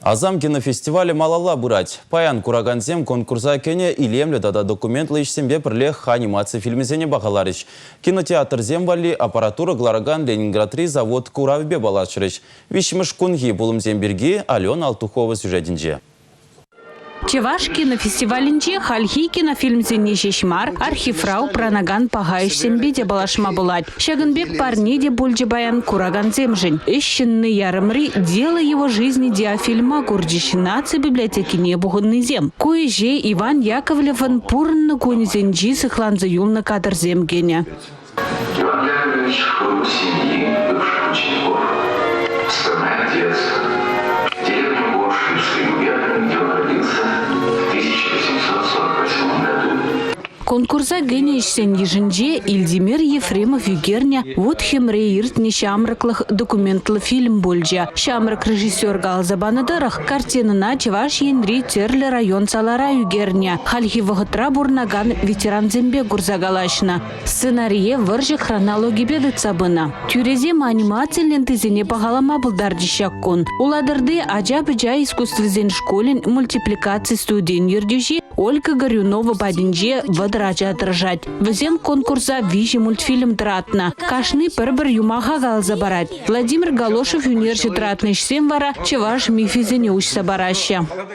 Асам кинофестивалӗ малалла пырать. Паян куракансем конкурса кӗнӗ илемлӗ тата документлӑ ӗҫсемпе пӗрлех анимаци фильмӗсене пахаларӗҫ. Кинотеатрсем валли аппаратура кӑларакан Ленинградри завод куравӗпе паллашрӗҫ. Виҫҫӗмӗш кунхи пулӑмсем пирки Алена Алтухова сюжетӗнче. Чӑваш кинофестивалӗнче хальхи кинофильмсене ҫеҫ мар, архивра упранакан паха ӗҫсемпе те паллашма пулать. Ҫакӑн пек парне те пулчӗ паян куракансемшӗн. «Ӗҫ ҫынни» ярӑмри «Дело его жизни» диафильма курчӗҫ наци библиотекине пухӑннисем. Ку ӗҫе Иван Яковлевӑн пурӑннӑ кунӗсенчи сыхланса юлнӑ кадрсем кӗнӗ. Иван Яковлевич был семьи бывших учеников. Скромный отец. Деревня Горшинский губернатор, где он родился в 1848 году. Конкурса кӗнӗ ӗҫсен йышӗнче Ильдимир Ефремов ӳкернӗ «Вот хӗмре иртнӗ ҫамрӑклӑх» документлӑ фильм пулчӗ. Ҫамрӑк режиссер каласа панӑ тӑрӑх, картинӑна Чӑваш Енри тӗрлӗ район салара ӳкернӗ. Хальхи вӑхӑтра пурӑнакан ветерансемпе курса калаҫнӑ. Сценарие вӑрҫӑ хронологипе тытса пынӑ. Тӳресем анимаци лентисене пахалама пултарчӗҫ ҫак кун. Улатӑрти ача-пӑча искусствисен шкулӗн мультипликаци студийӗн ертӳҫи Ольга Горюнова патӗнче вӑтӑр ача тӑрӑшать. Вӗсем конкурса виҫӗ мультфильм тӑратнӑ. Кашни пӗр-пӗр юмаха каласа парать. Владимир Галошев ӳнерҫӗ тӑратнӑ ӗҫсем вара чӑваш мифӗсене уҫса параҫҫӗ.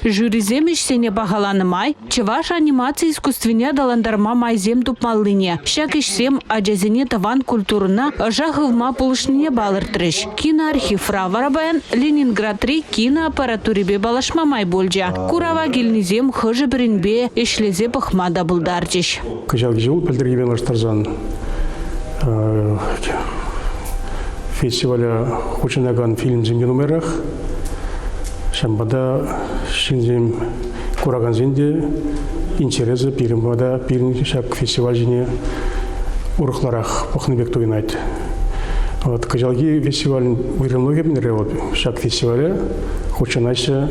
Жюрисем ӗҫсене пахаланӑ май чӑваш анимаци искусствине аталантарма майсем тупмаллине, ҫак ӗҫсем ачасене тӑван культурӑна ӑша хывма пулӑшнине палӑртрӗҫ. Киноархивра вара паян Ленинградри киноаппаратурипе паллашма май пулчӗ. Курава килнисем хӑшӗ-пӗринпе ӗҫлесе пӑхма та пултарчӗҫ. Кӑҫалхи ҫул пӗлтӗрхипе лаштарсан фестиваля хутшӑнакан фильмсем те нумайрах. Ҫавӑнпа та ҫынсем, куракансен те интересӗ пирӗн пата пирӗн ҫак фестиваль ҫине урӑхларах пӑхнӑ пек туйӑнать. Вот кӑҫалхи фестивалӗн уйрӑмлӑхӗ мӗнре вот ҫак фестивале хутшӑнаҫҫӗ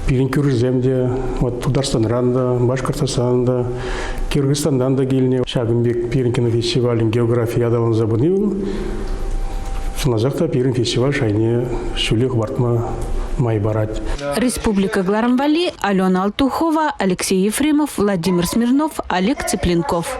пирӗн кӳршӗсем те, вот Тутарстанран та, Башкортостанран та, Киргизстандан та килнӗ. Ҫакӑн пек пирӗн кинофестивалӗн географи аталанса пыни сӑнасах та пирӗн фестиваль шайне ҫӳле хӑпартма май парать. Республика Гларым валли Алена Алтухова, Алексей Ефремов, Владимир Смирнов, Олег Цыпленков.